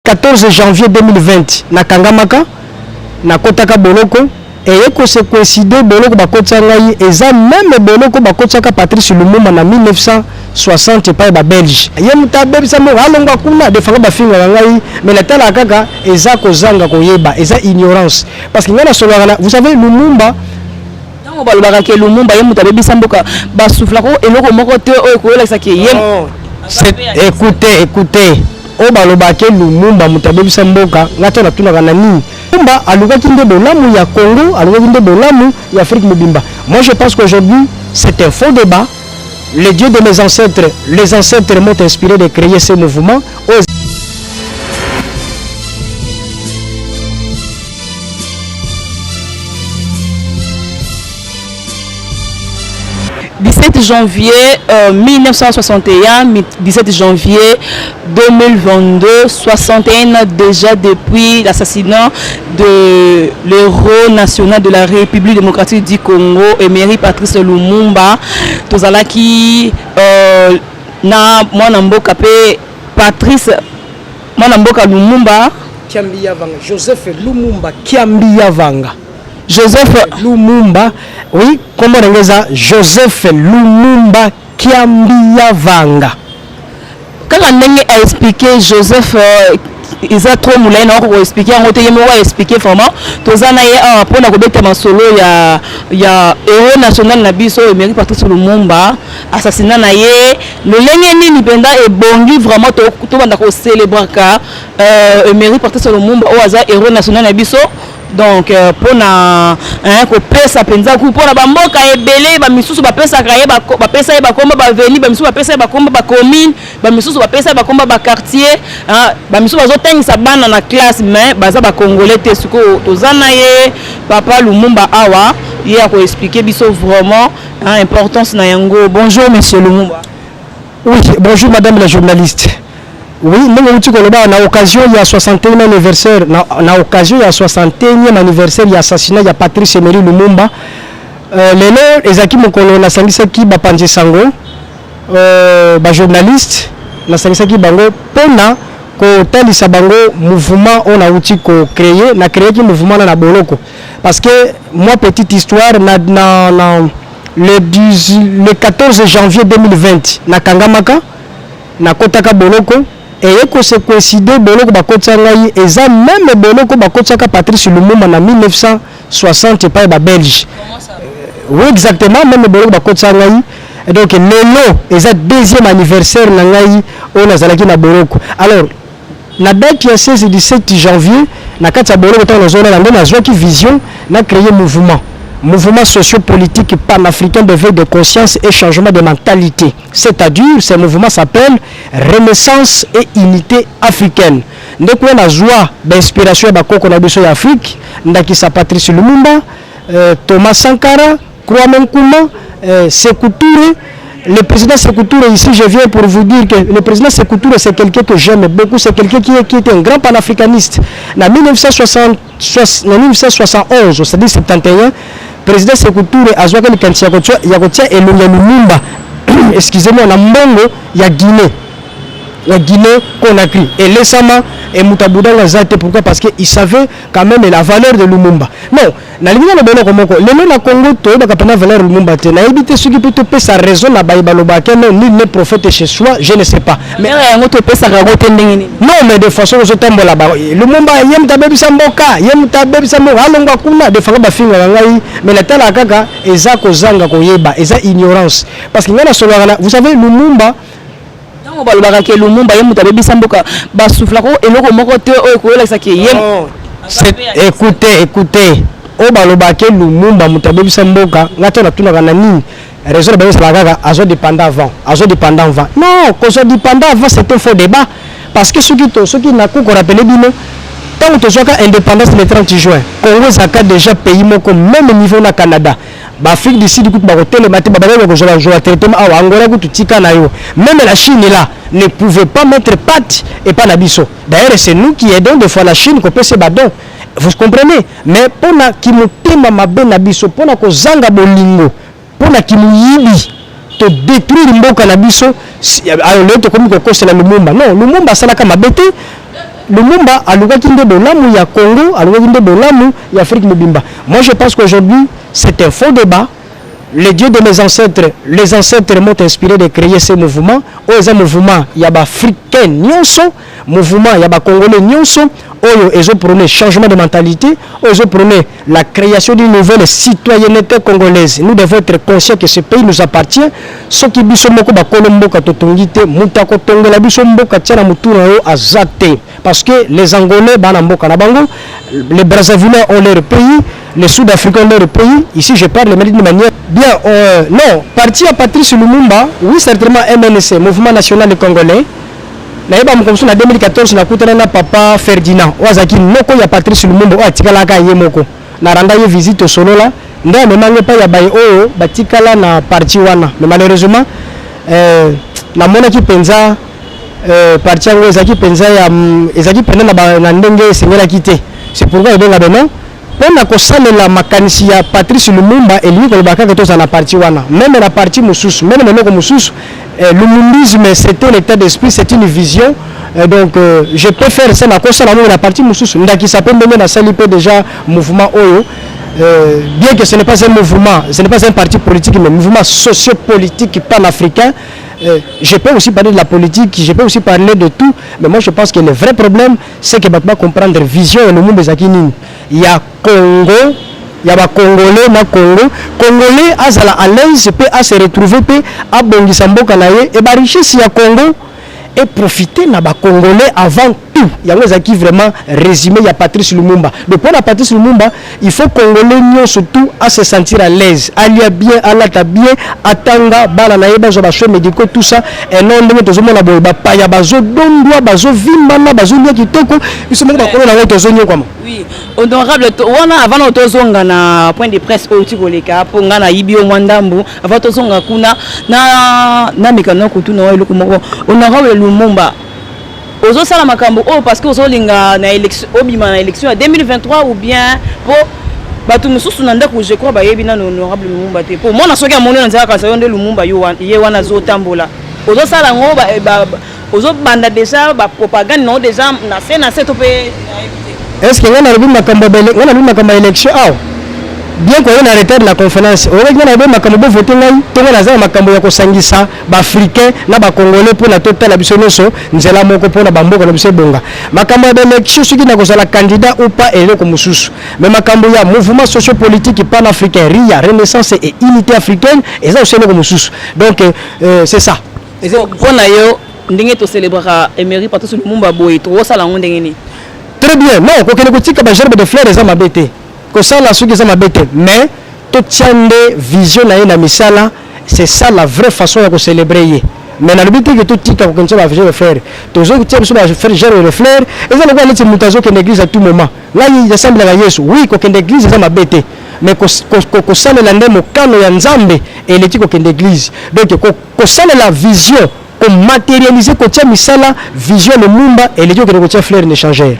14 janvier 2020 nakangamaka nakotaka boloko eye kose coïncide boloko bakotisa ngai eza meme boloko bakotisaka patrice lumumba na 1960 epai babelge ye moto abebisa moko alongwa kuna defanga bafingaka ngai mai natalaka kaka eza kozanga koyeba eza ignorance parce que ngai nasololaka na vous savez lumumba ntango balobaka ke lumumba ye moto abebisa mboka basuflaka eloko moko te oyo ekoyelakisa ke ye écoutez écoutez Oyo baloba ke Lumumba moto abebisa mboka, nga to natunaka na nini? Lumumba alukaki nde bolamu ya Congo, alukaki nde bolamu ya Afrique mobimba. Moi je pense qu'aujourd'hui c'est un faux debat. Les dieux de mes ancêtres, les ancêtres m'ont inspiré de creer ce mouvement. Oyo 17 janvier euh, 1961, 17 janvier 2022, 61 ans déjà depuis l'assassinat de l'héros national de la République démocratique du Congo, Emery Patrice Lumumba. Tozalaki euh, na mwana mboka pe Patrice mwana mboka Lumumba Kiambi Yavanga, Joseph Lumumba Kiambi Yavanga. Joseph Lumumba, oui, comment on ça Joseph Lumumba Kiambia Vanga. Quand on a expliqué Joseph euh, eza trop molai na oko koexplike yango te ye moko aexplike vraiment toza na ye awa mpona kobeta masolo ya ya euro national na biso emery patrice lumumba assassina na ye lolenge nini mpenza ebongi vraiment tobanda kocelebraka euh, emery patrice lumumba oyo aza euro national na biso donc euh, mpona hein, kopesa mpenza ku mpona bamboka ebele bamisusu bapesaka ye bapesa ye bakomba baveni bamisusu bapesa ye bakomba bacommune bamisusu bapesa ye bakomba baquartier hein, bamisusu bazotangisa bana na classe mais baza bacongolais te sikoyo toza na ye papa lumumba awa ye akoexplike biso vraiment hein, importance na yango bonjour monsieur lumumba Oui, bonjour madame la journaliste. Oui, ndenge outi koloba na occasion ya 61e anniversaire na, na occasion ya 61e anniversaire ya assassinat ya Patrice Emery Lumumba. Euh, lelo ezalaki mokolo nasangisaki bapanzi sango euh, ba journaliste nasangisaki bango pona kotalisa bango mouvement oyo nauti ko créer na créaki mouvement na na boloko Parce que moi petite histoire na, na, na le, 10, le 14 janvier 2020 na kangamaka na kotaka boloko eye kose coïncide boloko bakotisa ngai eza meme boloko bakotisaka Patrice Lumumba na 1960 epai ba Belge euh, oui exactement meme boloko bakotisa ngai donc lelo eza deuxième anniversaire na ngai oyo nazalaki na boloko alors Na date ya 16 et 17 janvier, na kati ya boloko tango nazo lala nde nazuaki vision na creer mouvement, Mouvement socio-politique panafricain d'eveil de conscience et changement de mentalite, c'est à dire ce mouvement s'appelle Renaissance et unite africaine. Nde kuna nazua ba inspiration ya ba koko na biso ya Afrique, ndakisa Patrice Lumumba, Thomas Sankara, Kwame Nkrumah eh, Sekou Touré le président Sekou Touré ici je viens pour vous dire que le président Sekou Touré c'est quelqu'un que j'aime beaucoup c'est quelqu'un qui, qui était un grand panafricaniste na 1960 na 1971 c'est-à-dire 71 président Sekou Touré azwaki likanisi ya kotia elongi ya lumumba excusez-moi na mbongo ya Guinée la Guinée Conakry. Et laissama et Moutabouda Zate, pourquoi Parce qu'il savait quand même la valeur de Lumumba. Non, Nalingi naloba eloko moko lelo na Congo toyebaka pena valeur Lumumba te nayebi te soki mpe topesa raison na baye balobaka no nul ne prophète chez soi je ne sais pas mais Valeur yango topesaka yango te ndenge nini? non mais de façon ozotambola ba Lumumba ye moto abebisa mboka ye moto abebisa mboka alongwa kuna de façon bafingaka ngai mais natalaka kaka eza kozanga koyeba eza ignorance parce que ngai nasololaka na vous savez Lumumba Tango balobaka ke Lumumba ye moto abebisa mboka ba souffla ko eloko moko te oyo koyelakisa ke ye Écoutez, écoutez. Oyo balobaka ke Lumumba moto abebisa mboka, ngai to natunaka na nini? Raison na bango ezalaka kaka azo dependa avant, azo dependa avant. Non, kozwa dependa avant c'est un faux débat parce que soki to soki na ko rappeler bino tango tozwaka independance le 30 juin, Congo ezalaka dejà pays moko meme niveau na Canada. ba Afrique du Sud kutu bakotelema te babakaki bakozwa bazwa ba territoire awa Angola kutu tika na yo meme la Chine là ne pouvait pas mettre patte epa na biso d'ailleurs c'est nous qui aidons des fois la Chine kopesa ba dons vous comprenez mais pona kimotema mabe na biso pona kozanga bolingo pona kimuyibi to detruire mboka na biso alors leo tokomi kokosela lumumba non lumumba asalaka mabe te lumumba alukaki nde bolamu ya congo alukaki nde bolamu ya afrique mobimba moi je pense qu'aujourd'hui c'est un faux débat le dieu de mes ancêtres les ancêtres m'ont inspiré de créer ce mouvement oyo eza mouvement ya baafricain nyonso mouvement ya bacongolais nyonso oyo ezoprone changement de mentalité oyo ezoprone la creation d'une nouvelle citoyenneté congolaise. Nous devons être conscients que ce pays nous appartient. soki biso moko bakolo mboka totongi te moto akotongola biso mboka tia na motu na yo aza te parce que les angolais bana mboka na bango les brazzavillais ont leur pays les sud africains ont leur pays ici je parle mais d'une manière bien euh, non parti ya patrice lumumba oui certainement mnc mouvement national congolais Nayeba mokolo mosusu na 2014 nakutana na papa Ferdinand oyo azalaki noko ya Patrice Lumumba oyo atikalaka ye moko na randa ye visite tosolola nde amema ngai epai ya baye oyo batikala na parti wana mais malheureusement eh, namonaki mpenza eh, parti yango ezalaki mpenza ya mm, ezalaki mpenza na, ba, na ndenge esengelaki te c'est pourquoi ebenga beno Mpo na kosalela makanisi ya Patrice Lumumba, elingi koloba kaka ete ozala na parti wana, meme na parti mosusu, meme na eloko mosusu, eh, Lumumbisme c'est un etat d'esprit, c'est une vision, eh, donc euh, je peux faire ça na kosala meme na parti mosusu, ndakisa mpe ndenge nasali mpe déjà mouvement oyo Euh, bien que ce n'est pas un mouvement, ce n'est pas un parti politique, mais un mouvement sociopolitique panafricain, euh, je peux aussi parler de la politique, je peux aussi parler de tout, mais moi je pense que le vrai problème, ce que bato ba comprendre vision ya lumumba ezalaki nini ya congo ya bacongolais na congo congolais azala à l'aise mpe ase retrouve mpe abongisa mboka na ye e barichesse ya congo eprofite na bacongolais avant tout yango ezalaki vraiment résumé ya patrice lumumba donc mpo na patrice lumumba Il faut congolais nionso tout a se sentir à l'aise, alia bien, alata bien, atanga, bana na ye bazwa ba soins médicaux tout ça et non ndenge tozomona boye ba paya bazo dondwa, bazo vimbana, bazo lia kitoko, biso moko bakolo na ngo tozo nyokwama. Oui, honorable wana avant na tozonga na point de presse oyo ti koleka po nga na yibi yo mwa ndambu avant tozonga kuna na na mekano kutuna eloko moko honorable Lumumba ozo sala makambo oyo parce que ozo linga na election obima na election ya 2023 ou bien po bato mosusu na ndako je crois bayebi nano honorable lumumba te po mwana soki amoni na nzela kanisa yo nde lumumba ye wana azotambola ozo sala yango eh, ozo banda deja ba propagande na yo deja na se na se to pe est ce que ngai nalobi makambo ngai nalobi makambo ya election awa bien koye na retard na conférence oyoki ngai nalobi makambo bovote ngai to ngai naza na makambo ya kosangisa b'africain na ba congolais pona totala biso nionso nzela moko pona ba mboka na biso ebonga makambo ya ba election soki na kozala candidat ou pas eloko mosusu mais makambo ya mouvement socio politique pan africain ria renaissance et unité africaine eza osi eloko mosusu donc euh, euh c'est ça pona yo ndenge to celebraka emery patrice lumumba boye tokosala yango ndenge nini très bien non kokende kotika ba gerbe de fleur eza mabe te kosala soki eza mabe te mais totia nde vision na ye na misala C'est ça la vraie façon ya ko celebrer ye. Mais nalobi te que totika kokendisa ba jeux de fleurs. Tozotia biso ba faire jeux de fleurs. Eza lokola neti moto azokende église à tout moment. Ngai nasambelaka Yesu. Oui, kokende église eza mabe te. Mais kos- kos- ko- kosalela nde mokano ya Nzambe eleki kokende église. Donc ko- kosalela vision ko materialiser kotia misala vision lumumba eleki okende kotia flair ne changer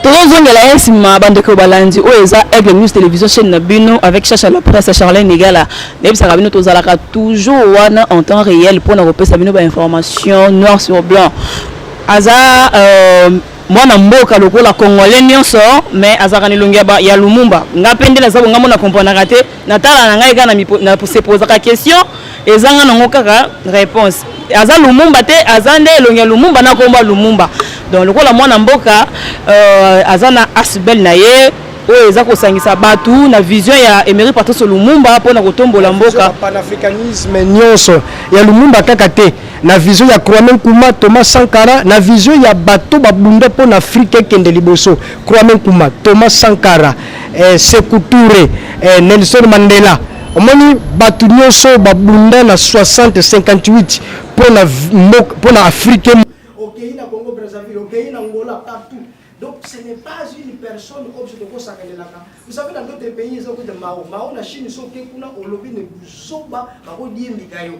tozozongela ye nsima bandeko balandi oyo eza aigle news télévision chaîne na bino avec chacha la presse charlene egala nayebisaka bino tozalaka toujours wana en temps réel mpo na kopesa bino bainformation noir sur blanc aza euh, mwana mboka lokola congolais nyonso mais azalaka na elongi ya lumumba ngai mpe nde naza bongambo na komprenaka te na tala na ngai kaka na se posaka question ezanga nango kaka réponse aza lumumba te aza nde elongi ya lumumba na komba lumumba donc lokola mwana mboka euh, aza na asbel na ye oyo eza kosangisa bato na vision ya emery patrice lumumba mpo na kotombola mboka panafricanisme nyonso ya lumumba kaka te na vision ya kwame nkuma thomas sankara na vision ya bato babunda mpo na afrika ekende liboso kwame nkuma thomas sankara eh, Sekou Touré eh, Nelson Mandela omoni bato nyonso babunda na 60 58 mpo na mpo na Afrique okei na Congo Brazzaville okei na Angola partout donc ce n'est pas une personne oyo biso tokosakanelaka vous savez dans d'autres pays eza okuta mao mao na Chine soki okei kuna olobi ne buzoba bakodiembika yo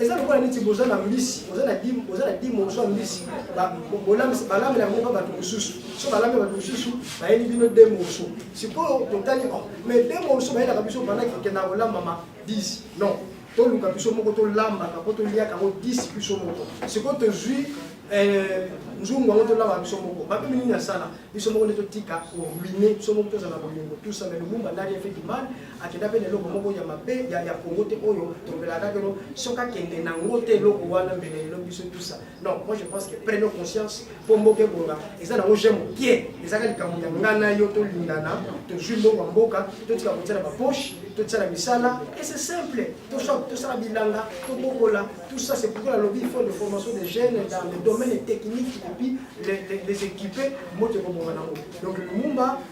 eza lokola neti boza na mbisi oza na dimo oza na dimo ozwa mbisi balambela yango mpa bato mosusu so balambela bato mosusu bayeli bino de morso sikoyo totali o oh, mais de morso bayelaka biso banda kikenda kolambama 10 non toluka biso moko tolambaka mpo toliaka yango 10 biso moko sikoyo tozwi eh, nzungu yango tolamba biso moko bape minini asala biso moko nde totika koruine biso moko tozala bolingo tusame lubumba ndani efeti mane akenda mpe na eloko moko ya mabe ya ya kongo te oyo tolobelaka keno soki akende na yango te eloko wana mbele lelo biso tusa non moi je pense que prenons conscience mpo mboka ebonga eza nango je mokie ezaka likambo ya ngai na yo tolingana tozwi mbongo ya mboka totika kotia na bapoche totia na misala et c'est simple tosala bilanga tobokola tout ça c'est pourquoi nalobi il faut de formation des jeunes dans le domaine technique et puis les équiper moto ekobonga nango donc lumumba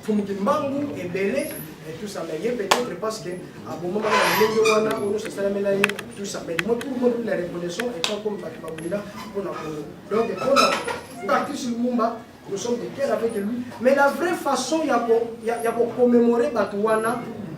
Mfumu Kimbangu ebele et tout ça mais ye peut-être parce que abomama na ndenge wana oyo nyonso esalamela ye tout ça mais moi tout le monde la reconnaissant étant comme bato babunda mpo na kongo donc mpo na patrice lumumba nous sommes de cœur avec lui mais la vraie façon ya ko ya, ya ko commémorer bato wana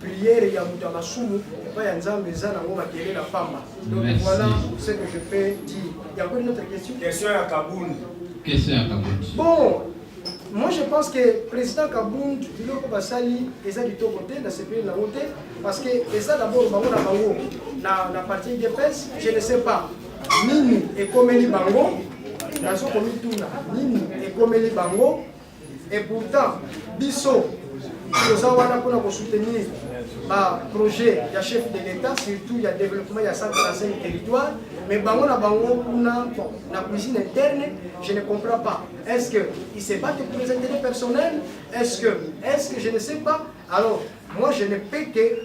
Prière ya moto ya masumu epai ya Nzambe eza nango makelele ya pamba. Donc voilà ce que je peux dire. Il y a encore une autre question? Question ya Kabund. Question ya Kabund. Bon, moi je pense que président Kabund biloko basali eza kitoko te na sepeli nango te parce que eza d'abord bango na bango na, na parti udps je ne sais pas nini ekomeli bango nazo komituna nini ekomeli bango Et pourtant, biso, toza wana mpona kosoutenir baprojet ya chef de l'État, surtout ya développement ya 135 territoire, mais bango na bango kuna na cuisine interne, je ne comprends pas. Est-ce qu'ils se battent pour les intérêts personnels Est-ce que, est que je ne sais pas Alors, moi je ne peux que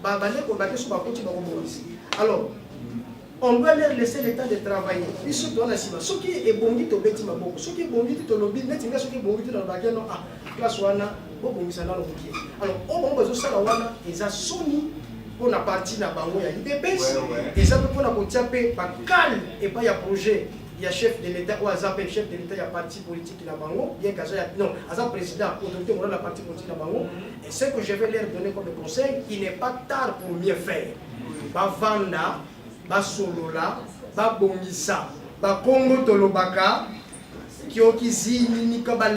Ba bande ko bande so ba koti ba ko bongisi. Alors on doit leur laisser le temps de travailler. Biso to na sima soki ebongi to beti maboko. Soki ebongi te to lobi neti nga soki ebongi te na ba non ah classe wana bo bongisa na loki. Alors o bango bazo sala wana eza soni pour la partie na bango ya UDPS eza pe pona ko tia pe ba calme et pas ya projet ya chef de l'État ou aza pe chef de l'État ya parti politique na bango bien qu'aza ya non aza président autorité morale la parti politique na bango Et ce que je vais leur donner comme conseil, il n'est pas tard pour mieux faire. Bavanda, basolola, babongisa, bakongo tolobaka, kiokizini nikabali.